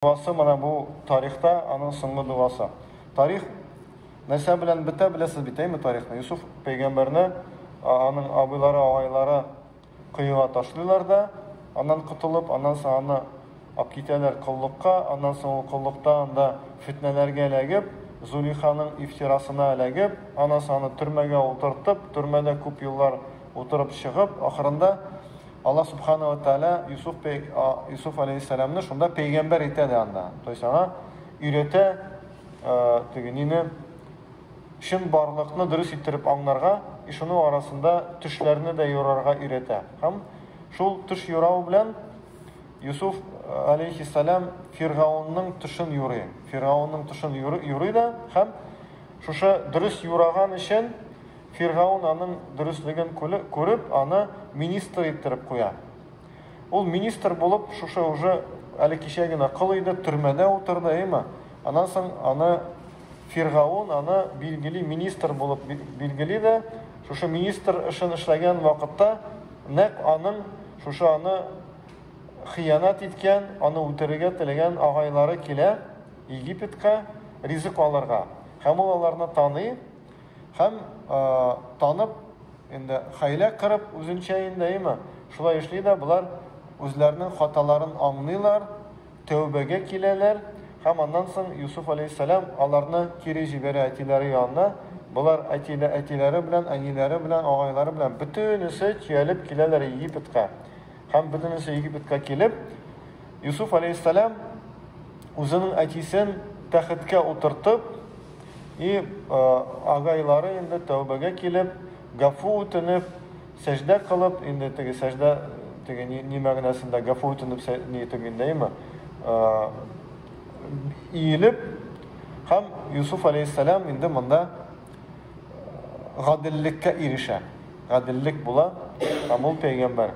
Дуасы менә бу тарихта аның соңгы дуасы. Тарих нәрсә белән бетә, беләсез бит, әйме тарихны? Йосыф пәйгамбәрне аның абыйлары, агайлары коега ташлыйлар да, аннан котылып, аннан соң аны алып китәләр коллыкка, аннан соң ул коллыкта анда фетнәләргә эләгеп, Зулиханың ифтирасына эләгеп, аннан соң аны төрмәгә утыртып, төрмәдә күп еллар утырып чыгып, ахырында Аллаһ Субхана ва Тәгалә Йосыф пе, а, Йосыф алейһиссәламны шунда пәйгамбәр итә дә анда. То есть аңа өйрәтә э, теге нине чын барлыкны дөрес иттереп аңларга, и шуның арасында төшләрне дә юрарга өйрәтә. Һәм шул төш юрау белән Йосыф э, алейһиссәлам Фиргаунның тышын юрый. Фиргаунның тышын юрый, юрый да һәм шушы дөрес юраган өчен Фиргаун аның дөреслеген күреп, аны министр иттереп куя. Ул министр булып, шушы уже әле кичә генә кол иде, төрмәдә утырды, әйме? Аннан соң аны Фиргаун аны билгели, министр булып билгели дә, шушы министр эшен эшләгән вакытта нәкъ аның шушы аны хыянат иткән, аны үтерергә теләгән агайлары килә Египетка ризык алырга. Һәм ул аларны таный. Һәм танып, инде хәйлә кырып үзенчә инде, әйеме? Шулай эшли дә болар үзләренең хаталарын аңныйлар, тәүбәгә киләләр һәм аннан соң Юсуф аләйһиссәлам аларны кире җибәрә әтиләре янына, болар әтиләре белән, әниләре белән, агайлары белән бөтенесе төялеп киләләр Египетка. Һәм бөтенесе Египетка килеп, Юсуф аләйһиссәлам үзенең әтисен тәхеткә утыртып, И агайлары инде тәүбәгә килеп, гафу үтенеп, сәҗдә кылып, инде теге сәҗдә теге ни, ни мәгънәсендә гафу үтенеп ни итеп инде, әйме? Иелеп, һәм Юсуф алейхиссалам инде монда гаделлеккә ирешә. Гаделлек була, һәм ул пәйгамбәр.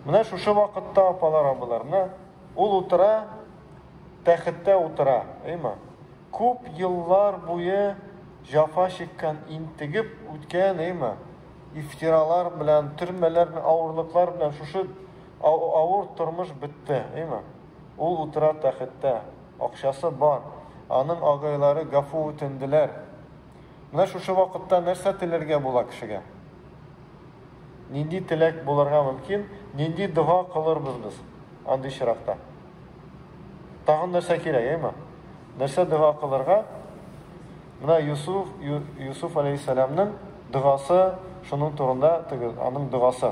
Менә шушы вакытта апалар абыларны Ул утыра, тәхеттә утыра, ыйма. Күп еллар буе җафа чиккән, интегеп үткән, ыйма. Ифтиралар белән, төрмәләр белән, авырлыклар белән шушы авыр тормыш бетте, ыйма. Ул утыра тәхеттә, акчасы бар, аның агайлары гафу үтенделәр. Менә шушы вакытта нәрсә теләргә була кешегә? Нинди теләк булырга мөмкин, нинди дога кылырбыз без андый чиракта? Тагын нәрсә кирәк, әйеме? Нәрсә дога кылырга? Менә Юсуф, Юсуф алейхиссәламның догасы, шуның турында, аның догасы.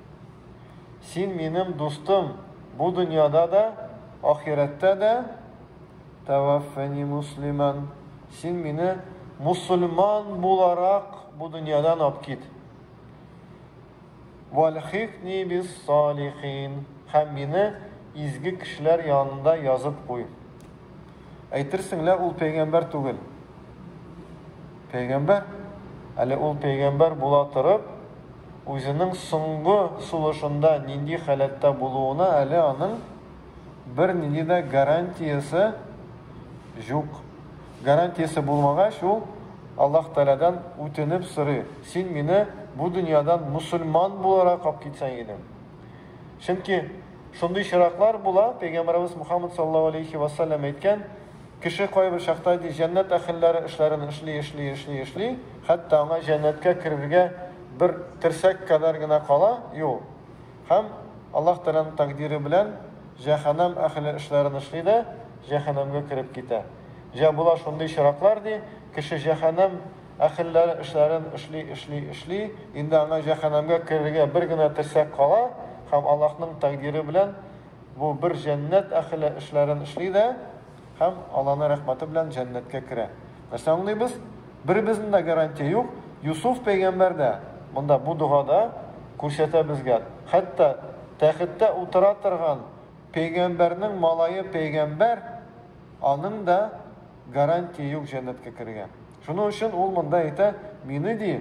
Син минем дустым бу дөньяда да, ахирәттә дә. Тәвәффәни муслиман. Син мине мусульман буларак бу дөньядан алып кит. Вальхикни бис-салихин. Һәм мине изге кешеләр янында язып куй. Әйтерсең лә ул пәйгамбәр түгел. Пәйгамбәр, әле ул пәйгамбәр була торып, үзенең соңгы сулышында нинди халәттә булуына әле аның бернинди дә гарантиясе җук. Гарантиясе булмагач, ул Аллаһ Тәгаләдән үтенеп сорый, Син мине бу дөньядан мөселман буларак алып китсәң идең. Чөнки шундый чираклар була, пәйгамбәребез Мухаммад саллаллаһу галәйһи ва саллям әйткән, Кеше кайбер чакта, ди, җәннәт әһелләре эшләрен эшли, эшли, эшли, эшли, хәтта аңа җәннәткә керергә бер терсәк кадәр генә кала, юл, һәм Аллаһ Тәгаләнең тәкъдире белән җәһәннәм әһеле эшләрен эшли дә, җәһәннәмгә кереп китә. Җә, була шундый очраклар, ди, кеше җәһәннәм әһелләре эшләрен эшли, эшли, эшли, инде аңа җәһәннәмгә керергә бер генә терсәк кала, һәм Аллаһның тәкъдире белән Бу бер җәннәт әхеле эшләрен эшли дә һәм Алланың рәхмәте белән җәннәткә керә. Нәрсә аңлыйбыз? Беребезнең дә гарантия юк. Йосыф пәйгамбәр дә монда бу догада күрсәтә безгә, хәтта тәхеттә утыра торган пәйгамбәрнең малае пәйгамбәр, аның да гарантия юк җәннәткә керергә. Шуның өчен ул монда әйтә, Мине, ди,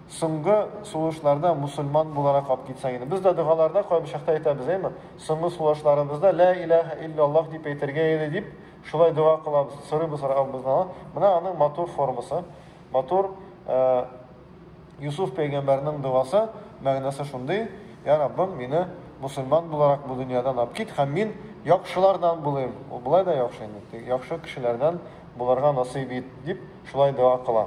Соңгы сулышларда мусульман буларак кап китсәң иде. Без дә догаларда кайбер чакта әйтәбез, әйме? Соңгы сулышларыбызда ла илаһа иллаллаһ дип әйтергә иде дип, шулай дога кылабыз, сорыйбыз Раббыбыздан. Менә аның матур формасы, матур Юсуф пәйгамбәрнең догасы, мәгънәсе шундый: Я Раббым, мине мусульман буларак бу дөньядан алып кит һәм мин яхшылардан булыйм. Ул болай да яхшы инде, яхшы кешеләрдән булырга насыйп ит, дип шулай дога кыла.